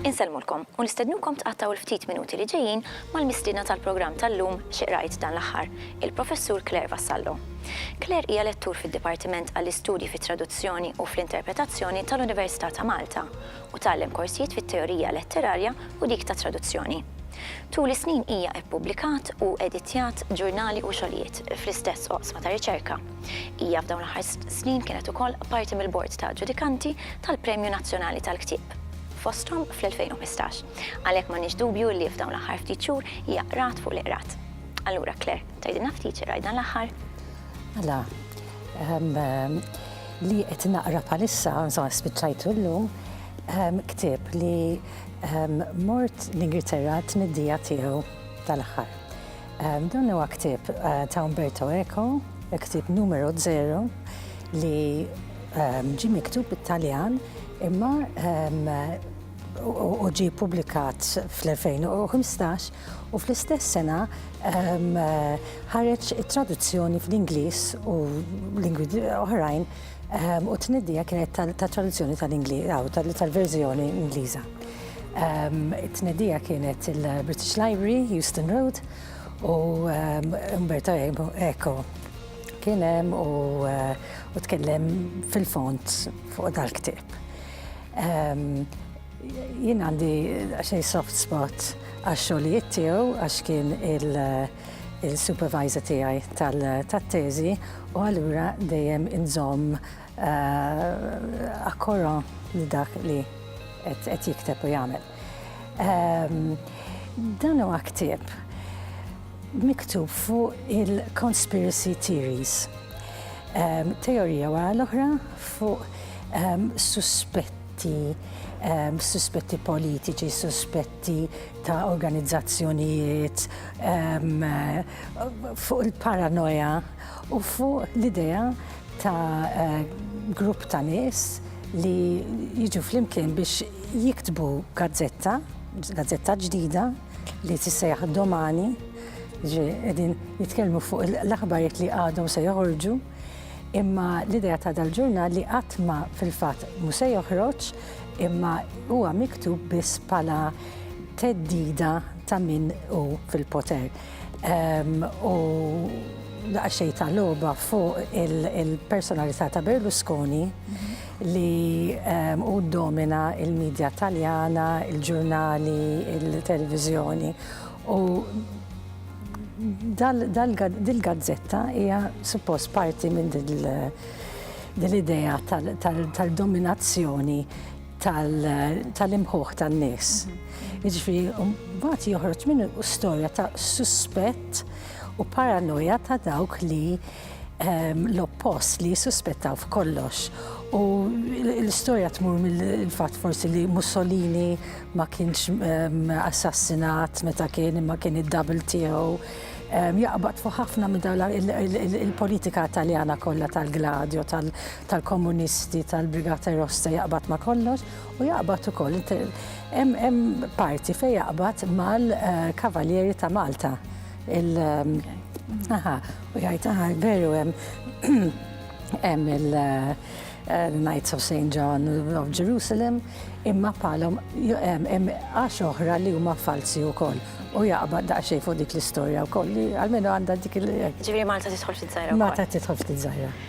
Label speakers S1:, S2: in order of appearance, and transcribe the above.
S1: Insellmulkom u nistednukom tqattgħu l-ftit minuti li ġejjin mal-mistiedna tal-programm tal-lum xi qrajt dan l-aħħar, il-Professur Claire Vassallo. Claire hija lettur fid-Dipartiment għall-Istudji fit-Traduzzjoni u fl-Interpretazzjoni tal-Università ta' Malta u tgħallem korsijiet fit-teorija letterarja u dik tat-traduzzjoni. Tul is-snin hija ippubblikat u editjat ġurnali u xogħlijiet fl-istess oqsma ta' riċerka. Hija f'dawn l-aħħar snin kienet ukoll parti mill-Bord ta' Ġudikanti tal-Premju Nazzjonali tal-Ktieb fosthom fl-2015. Għalhekk m'għandniex dubju li f'dawn l-aħħar ftit xhur hija qrat fuq li qrat. Allura, Claire, tgħidilna ftit xi rajt dan l-aħħar? Mela,
S2: ehm, li qed naqra bħalissa, insomma spiċċajtu llum, ehm, ktieb li ehm, mort l-Ingilterra t-tniddija tiegħu tal-aħħar. Ehm, dan huwa ktieb eh, ta' Umberto Eco, ktieb numero 0 li ehm, ġi miktub bit-Taljan imma ehm, u ġie ppubblikat fl-2015 u fl-istess sena ehm, ħareġ it-traduzzjoni fl-Ingliż u lingwi oħrajn ehm, u t-tnedija kienet tat-traduzzjoni tal-Ingliż tal-verżjoni Ingliża. Ehm, it-tnedija kienet il-British Library, Houston Road, u Umberto Eco kien hemm u eh, tkellem fil-font fuq dal-ktieb. Jien għandi xej soft spot għax-xogħlijiet tiegħu għax kien il-supervisor tiegħi tat-teżi u allura dejjem inżomm eh, akkoro li dak li qed jikteb u jagħmel. Dan huwa ktieb miktub fuq il-conspiracy theories, teorija wara l-oħra fuq suspetti, suspetti politiċi, suspetti ta' organizzazzjonijiet, fuq il-paranoja u fuq l-idea ta' grupp ta' nies li jiġu flimkien biex jiktbu gazzetta, gazzetta ġdida, li tissejjaħ domani, ġi qegħdin jitkellmu fuq l-aħbarijiet li għadhom se joħorġu, imma l-idea ta' dal-ġurnal li qatt ma fil-fatt mu se joħroġ imma huwa miktub biss bħala teddida ta' min u fil-poter. Ehm, u daqxej ta' loba fuq il-personalità ta' Berlusconi li hu ddomina l-midja Taljana, il-ġurnali, il-televiżjoni u dil-gazzetta hija suppost parti minn dil-idea tal-dominazzjoni tal-imħuħ tan-nies. Jiġifieri mbagħad joħroġ minnu storja ta' suspett u paranoja ta' dawk li l-oppost li jissuspettaw f'kollox. U l-istorja tmur mill-fatt forsi li Mussolini ma kienx assassinat meta kien imma kien id-double tiegħu. Jaqbad fuq ħafna minn dawn il-politika taljana kollha tal-gladju, tal-komunisti, tal-brigata rossa jaqbad ma kollox u jaqbad ukoll hemm parti fejn jaqbad mal-Kavalieri ta' Malta Il- um, aha, u jgħid aha, veru hemm hemm il- uh, uh, Knights of St. John of Jerusalem, imma palom hemm għax oħra li huma falsi wkoll. U jaqbad daqsxejn fuq dik l-istorja wkoll li għalmenu għandha dik il- Ġifieri Malta tidħol
S1: ftit żgħira. Malta tidħol ftit żgħira.